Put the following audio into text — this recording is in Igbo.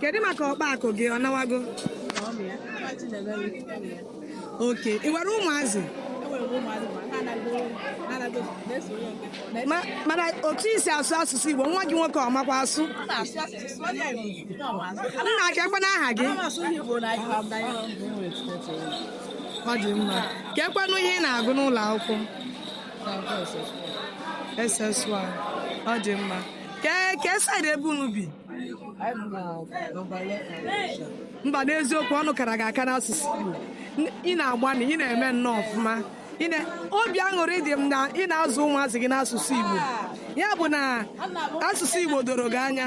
kedu maka ọkpa akụ gị ọ nawago okay ị nwere ụmụazị mana otu i si asụ asụsụ Igbo nwa gị nwoke ọ makwa asụ nna kee kwanụ aha gị ọ dị mma kee kwanụ ihe ị na-agụ n'ụlọ akwụkwọ SS one ọ dị mma kee side ebe unu bi mba n'eziokwu ọnụ kara gị aka n'asụsụ Igbo N- ị na-agbanị ị na-eme nnọọ ọfụma Ị na- obi aṅụrị dị m na ị na-azụ ụmụazị gị n'asụsụ Igbo ya bụ na asụsụ Igbo doro gị anya